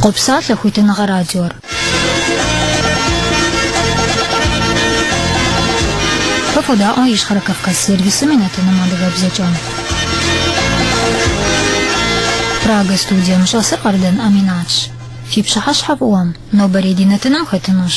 Къопсалъэ хуитыныгъэ радиор. Фэ фодаӏуэ Ищхъэрэ Кавказ сервисым и нэтыным адыгэбзэкӏэ. Прага студием щӏэсыр Къардан Аминатщ. Фи пщыхьэщхьэ фӏыуэм, нобэрей ди нэтыным хэтынущ.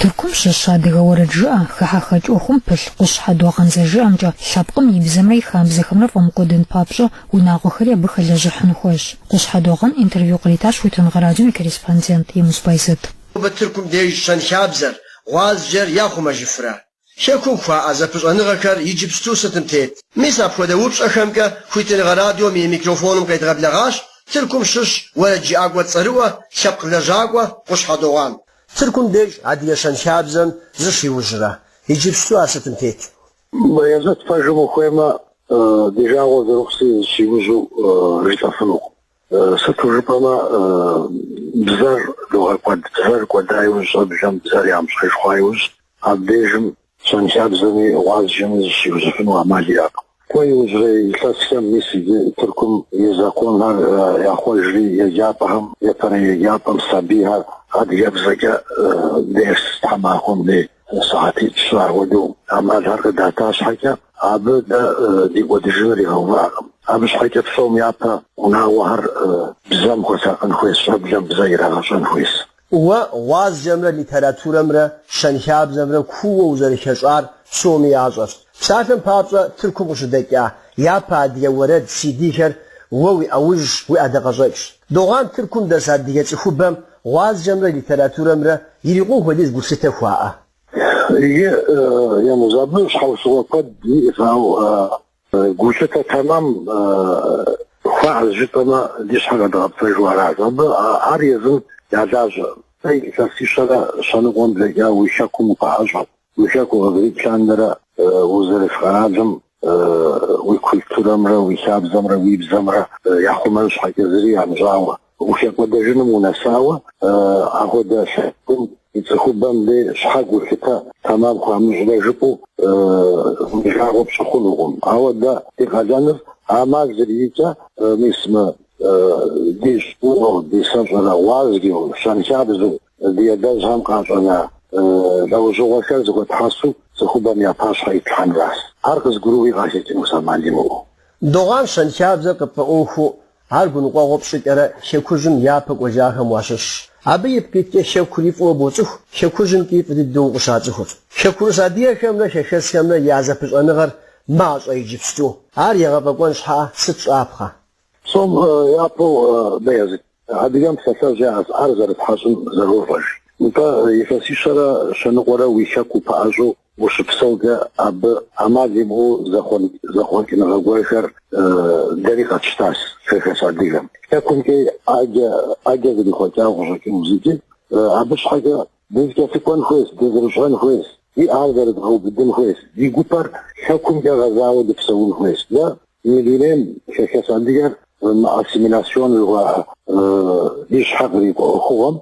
Тыркум щыщ адыгэ уэрэджыӏэ, хыхьэхэкӏ ӏуэхум пылъ Къущхьэ Догъан зэрыжиӏэмкӏэ, лъэпкъым и бзэмрэ и хабзэхэмрэ фӏэмыкӏуэдын папщӏэ, унагъуэхэри абы хэлэжьыхьын хуейщ. Къущхьэ Догъан интервью къритащ Хуитыныгъэ радиом и корреспондент Емуз Бэязэт. Нобэ Тыркум деж щэнхабзэр, гъуазджэр яхъумэжыфрэ? Хэкум хуаӏэ зэпыщӏэныгъэхэр иджыпсту сытым тет. Мис апхуэдэ упщӏэхэмкӏэ хуитыныгъэ радиом и микрофоным къедгъэблэгъащ Тыркум щыщ уэрэджыӏакӏуэ цӏэрыӏуэ, лъэпкъ лэжьакӏуэ Къущхьэ Догъан. Тыркум деж адыгэ щэнхабзэм зыщиужьрэ, иджыпсту ар сытым тет. Бэязэт пэжым ухуеймэ, ди жагъуэ зэрыхъущи зыщиужьу жытӏэфынукъым. Сыту жыпӏэмэ, бзэр догъэкӏуэд. Бзэр кӏуэда иужь, щӏэблэм бзэр ямыщӏэж хъуа иужь, абдежым щэнхабзэми гъуазджэми зыщиужьыфыну ӏэмал иӏэкъым. Кӏуэ иужьрей илъэсхэм мис иджы Тыркум и законхэр яхъуэжри, еджапӏэхэм япэрей еджапӏэм сабийхэр адыгэбзэкӏэ дерс тхьэмахуэм дей. Сыхьэтитӏ щы ахуэдэу ӏэмалхэр къыдата щхьэкӏэ, абы дэ ди кӏуэдыжыныр игъэувыӏакъым. Абы щхьэкӏэ псом япэ унагъуэхэр бзэм хуэсакъын хуейщ, щӏэблэм бзэ ирагъэщӏэн хуейщ. Уэ гъуазджэмрэ литературэмрэ щэнхабзэмрэ кууэ узэрыхэщӏар псоми ящӏэщ. Псалъэм папщӏэ, Тыркум къыщыдэкӏа япэ адыгэ уэрэд CD-хэр уэ уи ӏэужьщ, уи ӏэдакъэщӏэкӏщ. Догъан Тыркум дэс адыгэ цӏыхубэм Гъуазджэмрэ литературэмрэ ирикъун хуэдиз гулъытэ хуаӏэ? Иджы Емуз, абы щхьэусыгъуэ куэд иӏэщ, ауэ гулъытэ тэмэм хуаӏэ жытӏэмэ, ди щхьэр къэдгъэпцӏэжу аращ. Абы ар езым я лажьэ. Сэ илъэсищэрэ щэныкъуэм блэкӏа уи хэкум укъаӏэщӏэт. Уи хэку къызэрикӏ лъандэрэ узэрыс къэралым уи культурэмрэ уи хабзэмрэ уи бзэмрэ яхъумэн щхьэкӏэ зыри ямыщӏауэ ухэкӏуэдэжыным унэсауэ, ахуэдэ лъэпкъым и цӏыхубэм дей щхьэ гулъытэ тэмэм хуамыщӏрэ жыпӏэу уи жагъуэ пщӏы хъунукъым. Ауэ дэ ди къалэныр ӏэмал зэриӏэкӏэ, мис мы ди щӏыуэу, ди сэщӏэрэ гъуазджэу, щэнхабзэу Ди адэжьхэм къащӏэна лӏэужьыгъуэхэр зыхуэтхьэсу цӏыхубэм я пащхьэ итлъхьэнращ. Ар къызгурыӏуи къахэкӏынущ ӏэмал имыӏэу. Догъан щэнхабзэр къыпфӏэӏуэхуу, ар гуныкъуэгъуэ пщӏыкӏэрэ Хэкужьым япэ кӏуэжахэм уащыщщ. Абы ипкъ иткӏэ Хэкури фӏыуэ боцӏыху, Хэкужьым икӏи фӏы дыдэу укъыщацӏыху. Хэкурыс адыгэхэмрэ хэхэсхэмрэ я зэпыщӏэныгъэр мащӏэ иджыпсту. Ар егъэфӏэкӏуэн щхьэкӏэ сыт щӏапхъэ? Псом япэу Баязыт, адыгэм псалъэжь яӏэщ, ӏэр зэрытхьэщӏым зэрощӏэж. Нтӏэ, илъэсищэрэ щэныкъуэрэ уи хэку упэӏэщӏэу ущыпсэукӏэ, абы ӏэмал имыӏэу зэхъуэкӏыныгъэ гуэрхэр дэри къэтщтащ хэхэс адыгэм. Хэкумкӏи ӏэджэ зрихъуэкӏауэ къыщӏэкӏыну зыкӏи, абы щхьэкӏэ Дызэкӏэлъыкӏуэн хуейщ, дызэрыщӏэн хуейщ, ди ӏэр зэрыдгъэубыдын хуейщ, ди гупэр хэкумкӏэ гъэзауэ дыпсэун хуейщ. Дэ мы дунейм хэхэс адыгэр мы ассимиляцион жыхуаӏэ ди щхьэ кърикӏуэ ӏуэхугъуэм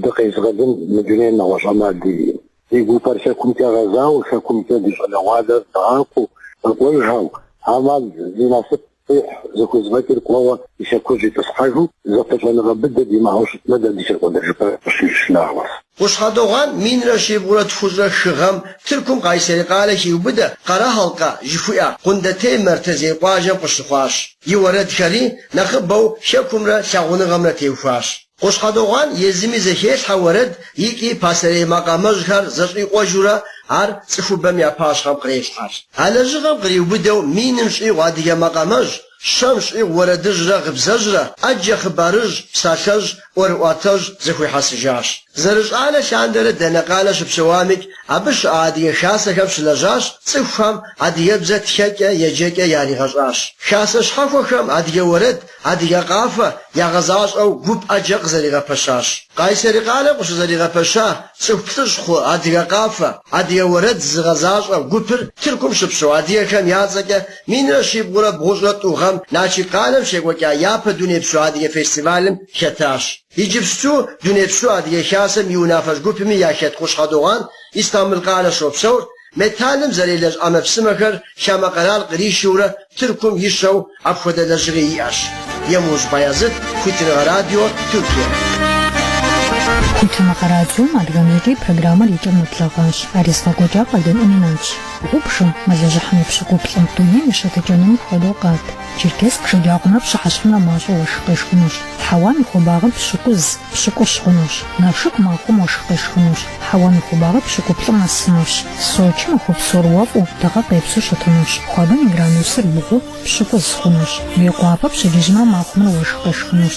дыкъезыгъэлын мы дунейм нэгъуэщӏ ӏэмал диӏэу. Ди гупэр хэкумкӏэ гъэзауэ, хэкумкӏэ ди щӏалэгъуалэр дгъакӏуэу, къэкӏуэжхэу, ӏэмал зи насып Къихь зыхузэфӏэкӏыр кӏуэуэ и хэкужь итӏысхьэжу, зэпыщӏэныгъэ быдэ димыӏэу щытмэ, дэ дыхэкӏуэдэжыпэр къыщищ нагъуэщ. Къущхьэ Догъан минрэ щибгъурэ тхущӏрэ хы гъэм Тыркум Къайсэри къалэ хиубыдэ Къэрэхьалкъэ жыхуиӏэ Къундетей Мэртэзей къуажэм къыщыхъуащ. И уэрэдхэри нэхъыбэу Хэкумрэ лъагъуныгъэмрэ теухуащ. Къущхьэ Догъан езыми зэхелъхьэ уэрэд икӏи пасэрей макъамэжьхэр зэщӏикъуэжурэ ар цӏыхубэм я пащхьэм кърелъхьэж. А лэжьыгъэм къриубыдэу миным щӏигъу адыгэ макъамэжь, щэм щӏигъу уэрэдыжьрэ гъыбзэжьрэ, ӏэджэ хъыбарыжь, псалъэжь, ӏуэрыӏуатэжь зэхуихьэсыжащ. Зэрыщӏалэ лъандэрэ дэнэ къалэ щыпсэуамикӏ, абы щыӏэ адыгэ хасэхэм щылэжьащ, цӏыхухэм адыгэбзэ тхэкӏэ, еджэкӏэ яригъэщӏащ. Хасэ щхьэхуэхэм адыгэ уэрэд, Адыгэ къафэ ягъэзащӏэу гуп ӏэджэ къызэригъэпэщащ. Къайсэри къалэм къыщызэригъэпэща цӏыху плӏыщӏ хъу Адыгэ къафэ, адыгэ уэрэд зыгъэзащӏэ гупыр Тыркум щыпсэу адыгэхэм я цӏэкӏэ минрэ щибгъурэ бгъущӏрэ тӏу гъэм Налшык къалэм щекӏуэкӏа япэ дунейпсо адыгэ фестивалым хэтащ. Иджыпсту Дунейпсо Адыгэ Хасэм и унафэщӏ гупми яхэт Къущхьэ Догъан Истамбыл къалэ щопсэур Металлым зэрелэжь ӏэмэпсымэхэр хамэ къэрал къришурэ Тыркум ищэу апхуэдэ лэжьыгъи иӏэщ. Емуж Баязыт, Хуитыныгъэ радио, Тыркие. Хуитыныгъэ радиом адыгэбзэкӏэ и программэр и кӏэм нэблэгъащ. Ар езыгъэкӏуэкӏар Къардэн Ӏэминатщ. Гъубжэм, мэлыжьыхьым и пщыкӏуплӏым, дунейм и щытыкӏэнур мыпхуэдэу къат. Черкесск шэджагъумрэ пщыхьэщхьэмрэ мащӏэу уэшх къешхынущ. Хьэуам и хуабагъыр пщыкӏуз, пщыкӏущ хъунущ. Налшык махуэм уэшх къешхынущ. Хьэуам и хуабагъыр пщыкӏуплӏым нэсынущ. Сочым махуэ псор уэфӏу, дыгъэ къепсу щытынущ. Хуабэм и градусыр бгъу, пщыкӏуз хъунущ. Мейкъуапэ пщэдджыжьымрэ махуэмрэ уэшх къешхынущ.